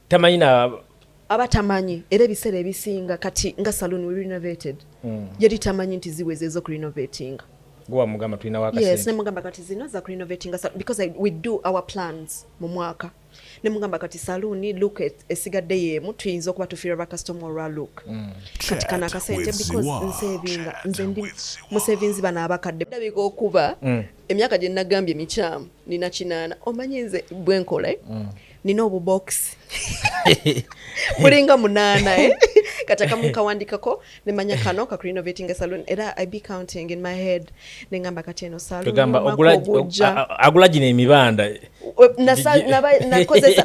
tamanyi na aba tamanyi era ebiseera ebisinga kati nga saloon we renovated mm. yali tamanyi nti ziweze ezoku renovatinga gwewamugamba tulina wakasente nemugamba kati zino za ku renovating because I, we do our plans mu mwaka nemugamba kati saluuni look esigadde yeemu tuyinza okuba tufiira bakasitoma olwa look mm. kati kana akasente because nsevinga nze ndi musevinzi bano abakadde dabika okuba mm. emyaka gye nagambye mikyamu nina kinaana omanyi nze bwenkola eh? mm. nina obubokisi bulinga munaana eh? kati akamu nkawandikako nemanya kano kakurinovating saloon era i be counting in my head nengamba kati eno saloonagula gino emibanda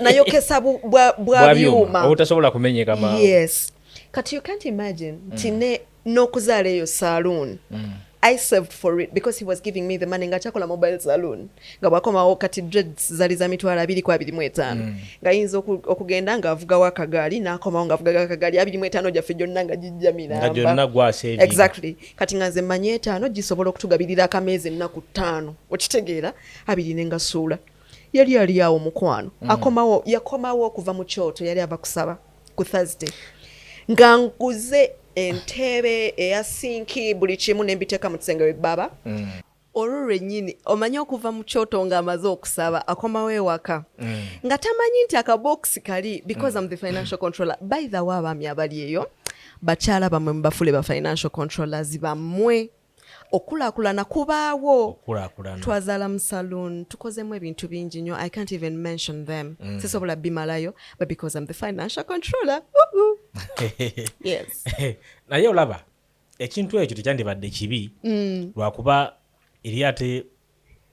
nayokesa bwa byuma obutasobola kumenyeka yes kati you can't imagine nti mm. ne n'okuzaala eyo saloon mm. I saved for it because he was giving me the money nga kyakola mobile saloon nga bwakomawo kati dreads zali za mitwalo abiri ku abiri mu etaano mm. nga yinza okugenda ng'avugawo akagaali n'akomawo ng'avugaga akagaali abiri mu etaano gyaffe gyonna nga gijja miramba exactly kati nga nze mmanyi etaano gisobola okutugabirira akameezi ennaku ttaano okitegeera abiri ne ngasuula yali ali awo mukwano mm. akomawo yakomawo okuva mu kyoto yali ava kusaba ku thursday nga nkuze entebe eya sinki buli kimu nembiteeka mu kisenge webaba mm. olwo lwenyini omanyi okuva mu kyoto nga amaze okusaba akomawo ewaka mm. nga tamanyi nti akabokisi kali because mm. am the financial controller by the way abaami abali eyo bakyala bamwe mubafule ba financial controllers bamwe okukulaakulana kubaawo twazala mu saloon tukozemu ebintu bingi nyo i can't even mention them mm. sisobola bimalayo but because i'm the financial controller yes naye olaba ekintu ekyo tekyandibadde kibi mm. lwakuba eri ate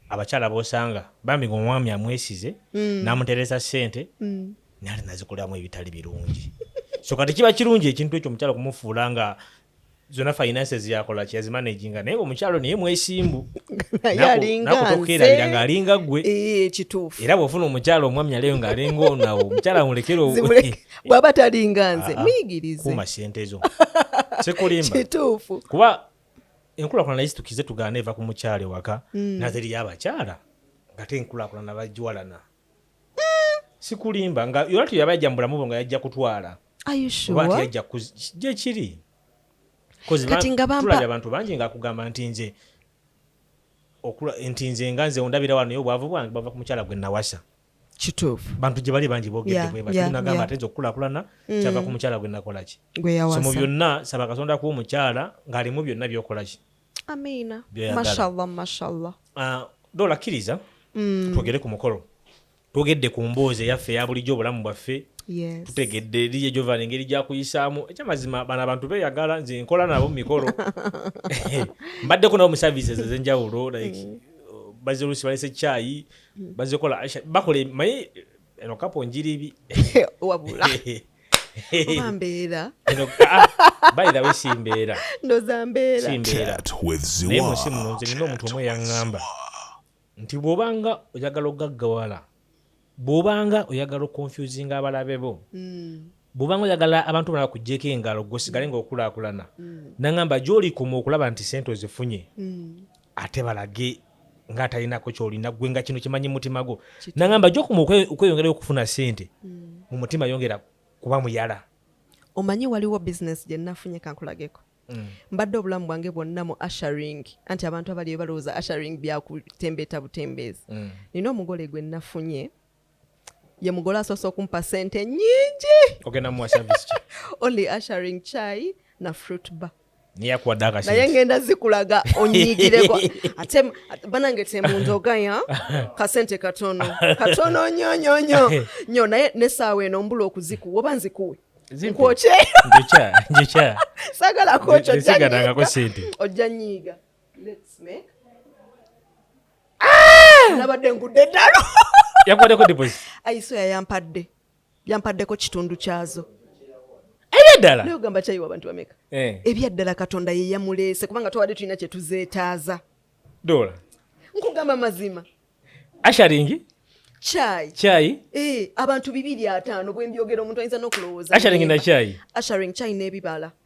abakyala bosanga bambi nga omwami amwesize mm. namutereza sente mm. nali nazikolamu ebitali birungi so kati kiba kirungi ekintu ekyo omukyala kumufuula nga zona finances yakola kyazimanaginga naye omukyalo naye mwesimbu nakutokerabira ngaalinga gwe eh, kituufu era bwofuna omukyalo omwami aleyo ngaalinga onawo omukyala mulekere bwaba talinga nze ah, ah. muyigirize kuma sente zo sikulimba kuba enkulakulana naye situkize tugaana eva ku mukyala ewaka mm. nazeriyo abakyala ngate enkulakulana bajiwalana mm. sikulimba nga yona tuyaba yajja mubulamubo nga yajja kutwala oba yajja gyekiri tulabye abantu bangi nga kugamba nti nze nti nze nga nze ondabira wano naye obwavu bwange bava ku mukyala gwe nawasa kituufu bantu gye bali bangi boogedde bwe bati nagamba ate nze okukulaakulana mm. kyava ku mukyala gwe nakola ki so mu byonna saba katonda kuba omukyala ng'alimu byonna byokola ki amiina mashallah mashallah ah, doola kkiriza mm. twogere ku mukolo twogedde ku mboozi eyaffe eya bulijjo obulamu bwaffe tutegedde eriye gyovana engeri gyakuyisaamu ekyamazima bano abantu beyagala nze nkola nabo mumikolo mbaddeko nabo mu services ezenjawulo like mm. bazirusi balese caayi bazikola aisha bakola maye eno kapo njiribi wabula oba mbeera ah, by the way si mbeera ndoza mbeera si mbeera naye munsi muno nze nina omuntu omu eyaŋŋamba nti bw'obanga oyagala okugaggawala bw'obanga oyagala okonfusinga abalabe bo hmm. bwobanga oyagala abantu bana bakuggyeko engalo gwe osigale nga okulaakulana mm. nangamba gyolikoma okulaba nti sente ozifunye mm. ate balage nga atalinako kyolina gwe nga kino kimanyi mutima gwo nangamba gyokuma okweyongerayo okufuna sente mm. mu mutima yongera kuba muyala omanyi waliwo bizinesi gye nafunye kankulageko mbadde obulamu bwange bwonna mu asharing anti abantu abali balowooza asharing byakutembeeta butembeezi nina omugole gwe nafunye ye mugole asoose okumpa sente nyingi ogenda muwa service ki only ushering chai na fruit bar neyakuwadde akasente naye ngenda zikulaga onyigireko ate banange temundogaya kasente katono katono nyo nyo nyo nyo naye nesaawa eno mbula okuzikuwa oba nzikuwe nkwokye njokya sagala kwokyo ojja nyiiga let's make ah! nabadde ngudde eddalo yakubaddeko deposit ayiso yayampadde yampaddeko kitundu kyazo ebyaddala naye ogamba kyayiwa abantu bameka eh. ebyaddala katonda yeyamuleese kubanga twabadde tulina kyetuzeetaaza dola nkugamba mazima asharingi chai chai eh, abantu bibiri ataano bwembyogera omuntu ayinza nokulowooza asharing na chai asharing chai n'ebibala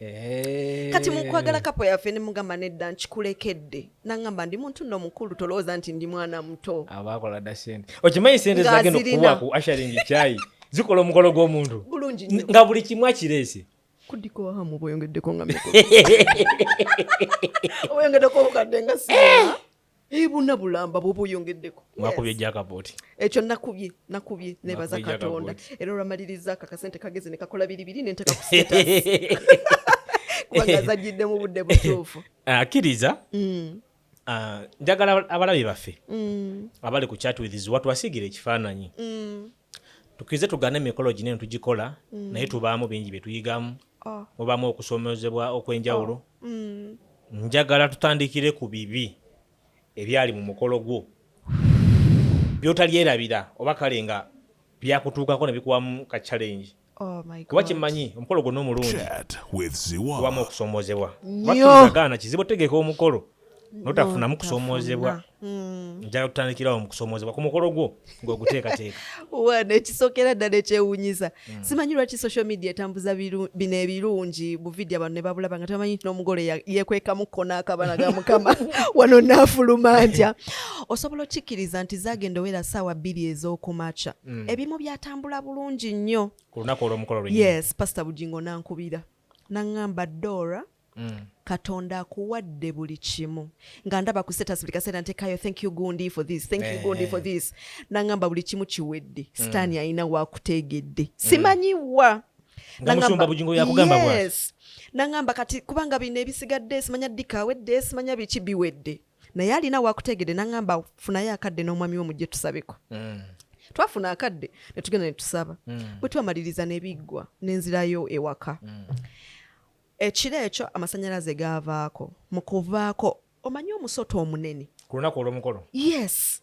Eh. kati mukwagala kapo yaffe nemugamba nedda nkikulekedde nangamba ndi muntu no mukulu tolowooza nti ndi mwana muto abakola da sente okimanyi sente zagenda okukuba ku asharingi kyayi zikola omukolo gw'omuntu bulungi nga buli kimu akireese kudiko hamu boyongeddeko nga miko boyongeddeko obukadde nga si eh. ebuna eh, bulamba bwoba oyongeddeko mwakubye jakaboti ekyo nakubye nakubye nebaza katonda era olwamaliriza ako akasente kageze nekakola biribiri nenteka kuseta kubanga zajjidde mu budde butuufu akkiriza ah, mm. ah, njagala abalabi baffe mm. abali ku chat with watwasigira ekifaananyi mm. tukirize tugane emikolo gino eno tugikola mm. naye tubaamu bingi bye tuyigamu oh. mubaamu okusomozebwa okw'enjawulo oh. mm. njagala tutandikire ku bibi ebyali mu mukolo gwo byotalyerabira oba kale nga byakutuukako ne bikuwamu ka challenge Oh kuba kimanyi omukolo gwonna omulungi wamu okusoomoozebwa batuagaana kizibu otegeka omukolo notafunamu kusoomoozebwa hmm. njala tutandikirawo mukusoomoozebwa ku mukolo gwo ngaoguteekateeka wano ekisokera ddala ekyewunyisa hmm. simanyi lwaki social media etambuza bino ebirungi buvidiyo abantu ne babulaba nga tamanyi nti n'omugole yekwekamu kona akabana ga mukama wano naafuluma ntya osobola okikkiriza nti zagenda owera saawa bbiri ez'okumaca mm. ebimu byatambula bulungi nnyo ku lunaku olwomukolo lwe yes pasita bugingo nankubira naŋŋamba dora Mm. katonda akuwadde buli kimu nga ndaba ku status buli kaseera ntekayo thank you gundi for this thank you gundi for eh. this nangamba buli kimu kiwedde mm. sitaani alina wakuteegedde mm. simanyiwa nangamba kati kubanga bino ebisigadde simanya dikawedde simanya biki biwedde naye alina wakutegede nangamba funayo akadde n'omwami wo mujje tusabeko mm. twafuna akadde netugenda netusaba mm. bwetwamaliriza nebiggwa nenzirayo ewaka mm. ekiro ekyo amasanyalaze gaavaako mukuvaako omanyi omusota omunene ku lunaku olwomukolo yes